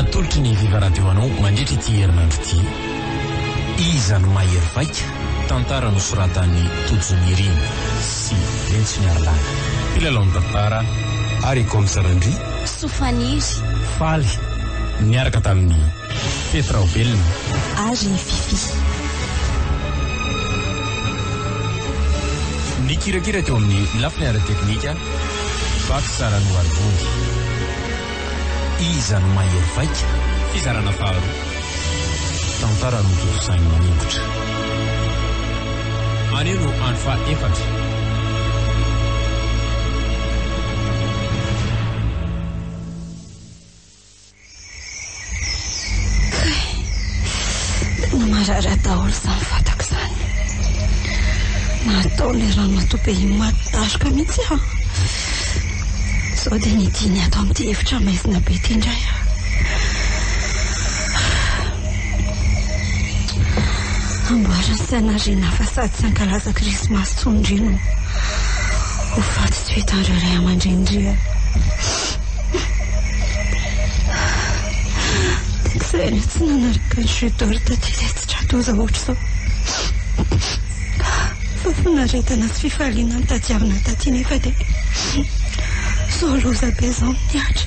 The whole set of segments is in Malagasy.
Atolotry ny Viva Radio anao mandritra ity herinandro ity, Iza no mahery vaika? tantara nosoratan'i Tojo Nirina sy Lentsy Miarilahy, mpilalaon'ny tantara, ary Kom Sarandria. Soa faniry. Faly niaraka tamin'ny. Fety Raovelona. Ary Fiffi. Nikirakira teo amin'ny lafiny ara-teknika, Baksa Ranoarivony. Iza no mahery vaika? Fizarana faharoa. Tantara notontosain'i Maningotra. Anio no andro fahaefatra. Marary daholo izany vatako izany. Natao ilay ramatoa be maty daroka mihitsy aho. Sao dia nidiny ato amin'ity efitra maizina be ity indray aho. Amboarin'ny sainariana fa sady tsy ankalaza krismasy intsony indray no ho faty tsy ho hitan'ireo ray aman-dreny indray aho. Saingy tsy nanaraka ny chute d'or taty ilay tsy tra-doza ohatr'izao. Fa fanaretana sy fifaliana notadiavina taty nefa dia izao loza be izao no nihatra.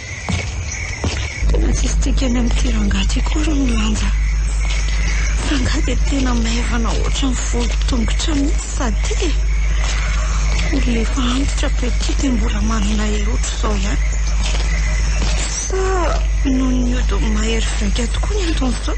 Tena tsy hisitrika any amin'ity rangahy ity akory ny lanja. Rangahy dia tena maivana ohatran'ny volon-tongotra mihitsy sady e! Olona efa antitra petit dia mbola manana hery ohatr'izao ihany. Sa noho ny ody mahery vaika tokoa ny anton'izao?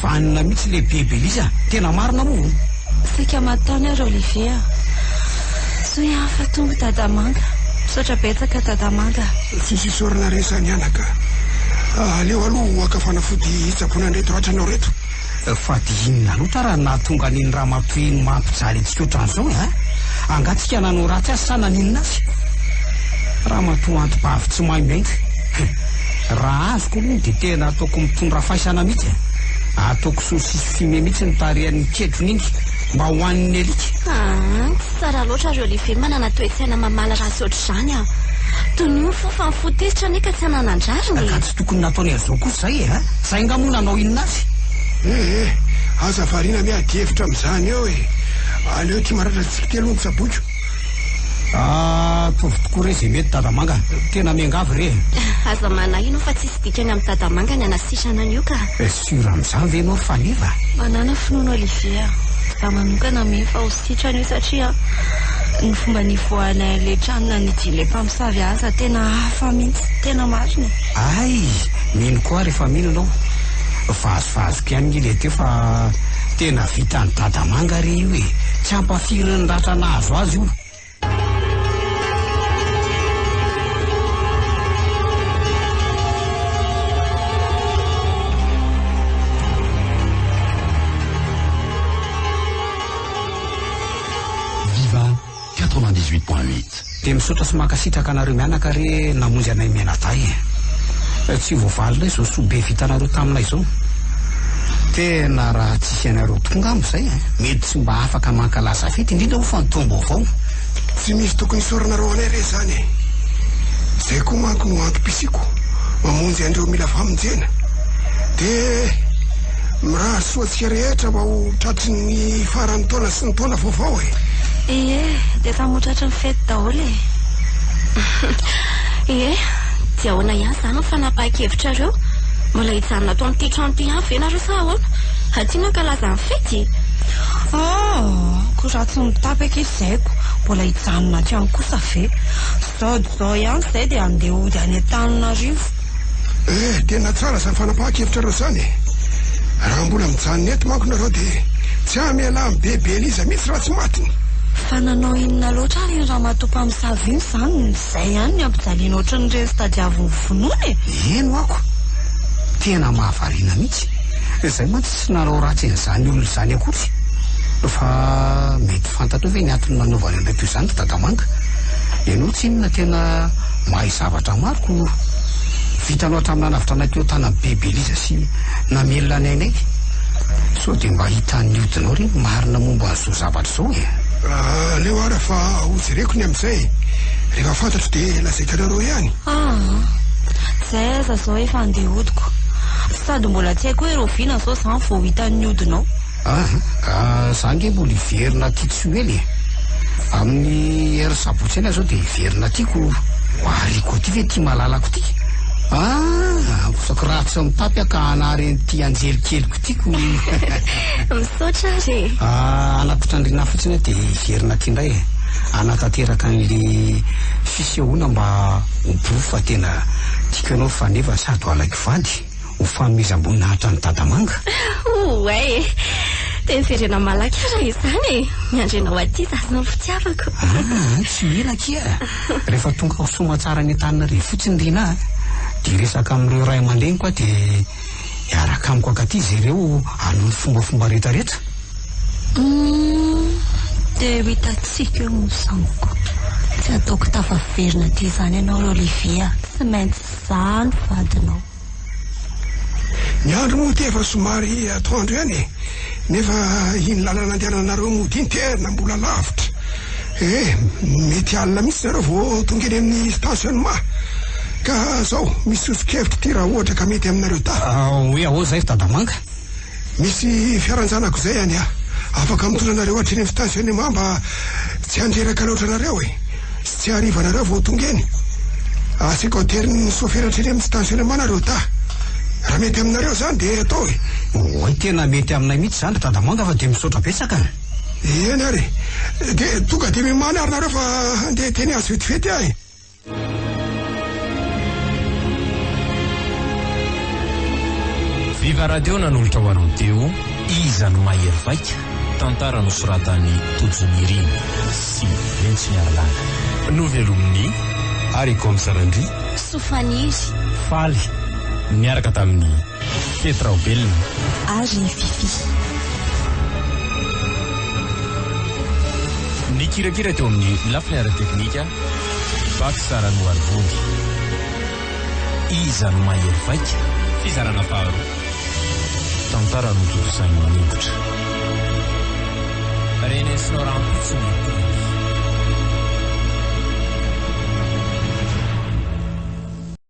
Vanona mihitsy le be Belize a! Tena marina moa o! Saika matany ary Olivier a! Soa ihany fa tonga Dada Manga! Misaotra betsaka Dada Manga a! Tsisy isaorana re sa mianaka a! Aleo aloha ho haka fanafody hitsaboana an'ireto ratranao reto! Fa dia inona loatra raha nahatonga an'iny ramatoa iny maha mpijaly antsika otran'izao e a! Angaha tsika nanao ratsy azy sa naninona azy? Ramatoa anti-bavy tsy maimbo enga! Raha azoko aloha dia tena ataoko mitondra faisana mihitsy e! Ataoko saucisse fumée mihitsy ny tarihan'iny kedrony iny mba ho an'ny alika. Aa, tsy tsara loatra ry Olivier manana toe-tsaina mamaly ratsy ohatr'izany an! Toy ny ho fo fa nifoha tezitra anie ka tsy hananan-drariny e! Ka tsy tokony nataony an'izao kosa izay e! Ha? Izay nga moa nanao inona azy? Eh eh, aza variana miady hevitra amin'izany eo e! Aleo ity maratra tsiky ity aloha no tsaboiko. Ah, ataovy tokoa re izay mety dada manga. Tena miangavy re. Aza manahino fa tsisy dikany amin'ny dada manga ny anasitrana an'io ka. Eh, sûr amin'izany ve ianao ry Faneva? Manana finoana Olivier a. Za manokana mino fa ho sitrana io satria ny fomba nivoahanay an'ilay trano nanidian'ilay mpamosavy aza tena hafa mihitsy. Tena marina e. Hay, mino koa aho rehefa mino ianao. Vazivazoky ihany nge ilay teo fa. Tena vitan'i dada manga re io e! Tsy ampafirin'ny ratra nahazo azy io. Quatre-vingt-dix huit point huit. Dia misaotra sy mankasitraka anareo mianaka re namonjy anay mianadahy e! Tsy voavalinay izao soa be vitanareo taminay izao. Tena raha tsy hisy anareo tokoa ngamba izay mety tsy mba afaka mankalaza fety indrindra hoy fa ny taom-baovao. Tsy misy tokony hisaoranareo anay re izany e! Izay koa manko no antom-pisiako mamonjy an'ireo mila famonjena. Dia mirary soa antsika rehetra mba ho tratry ny faran'ny taona sy. Tsy ny taona vaovao e! Ie, dia samy ho tratry ny fety daholo e! Ie, dia ahoana ihany izany ny fanapahan-kevitrareo? Mbola hijanona ato amin'ity trano ity ihany ve nareo sa ahoana? Aty mankalaza ny fety e! Aa! ko raha tsy mitapaka izy izay ko mbola hijanona aty ihany kosa ve? Sao dia sao ihany izay dia handeha hody any Antananarivo. Eh, tena tsara izany fanapahan-kevitra anareo izany e! Raha mbola mijanona eto manko nareo dia tsy hamela an'i Bebe Eliza mihitsy raha tsy matiny! Fa nanao inona loatra ary iny ramatoa mpamosavy iny izany? Izay ihany ny ampijaliana ohatran'ireny tadiavin'ny finoana e! Heno ako! Tena mahavariana mihitsy! Izahay mantsy tsy nanao ratsy an'izany olona izany akory! Fa mety fantatrao ve ny antony nanaovany an'ireto izany ry Dadamanga? Ianao tsinona tena Mahay zavatra maro Koro. Vitanao hatramin'ny nanavotra anay teo an-tanan'i Be Belisa sy namelona anay anay. Sao dia mba hitan'ny hodinao re ny marina momba an'izao zavatra izao e. Aleo ara fa hojereko ny amin'izay. Rehefa fantatro dia lazaiko anareo ihany. Aa. Izay aza izao efa andeha hodiko. Sady mbola tsy hay koa ireo vina sao izany vao hitan'ny hodinao. An, ka za ange mbola hiverina aty Tsioela e! Amin'ny heure sabotsy eny aho zao dia hiverina aty ko ho ariko aty ve ity malalako ity? An, ampoizako ratsy ny tapy aho ka hanary an'ity anjely keliko ity ko! Misaotra ary e! Ah, hanatitra andriana aho fotsiny aho dia hiverina aty indray e! Hanatanteraka an'le fisehoana mba ho bro fa tena tiako ianao fa nefa sady ho alaiko vady. ho fanomezam-boninahitra an'i Dadamanga? Ouai e! Dia miverena malaky ara izany e! Miandry anao aty za sy ny fitiavako. Aa, tsy ela akia! Rehefa tonga ao Soamatsara any Antananarivo fotsiny Rinah a, dia hiresaka amin'ireo ray aman-dreniko aho dia hiaraka amiko ankaty izy ireo hanohy ny fombafomba rehetra rehetra. Humm, dia ho hitantsika eo ny zanako. Tsy ataoko tafaverina aty izany ianao ry Olivier a! Tsy maintsy. za no vadinao. Ny andro moa ity efa somary atoandro ihany e! Nefa iny lalana andehananareo mody iny tena mbola lavitra e! Mety alina mihitsy nareo vao tonga eny amin'ny stationnement. Ka zao, misy soso-kevitra ity raha ohatra ka mety aminareo dahy. Hoe ahoa zay ry Dadamanga? Misy fiaran-janako izay any a! Afaka mitondra anareo hatreny amin'ny station'ny mah mba tsy handreraka loatra anareo e! Sy tsy hariva anareo vao tonga eny. Asiako aterian'ny sofera hatreny amin'ny station'ny mah nareo da! Raha mety aminareo izany dia atao e! Oay tena mety aminay mihitsy izany ry Dadamanga fa dia misaotra betsaka a! Eny ary e! Dia tonga dia mimaly ary nareo fa handeha teny azy vetivety aho e! Viva Radio nanolotra ho anao teo Iza no mahery vaika? tantara nosoratan'i Tojo Nirina sy Rentsimiarilala. Novelomin'i Aricom Sarandria. Sofaniry. Faly niaraka tamin'i Fety Raobelina. Ary Fifi. Nikirakira teo amin'ny lafiny ara-teknika. Vaky sara no ary vonjy. Iza no mahery vaika? Fizarana faharoa. Tantara notontosain'i Maningotra. Renesinao rahampitso ny teny.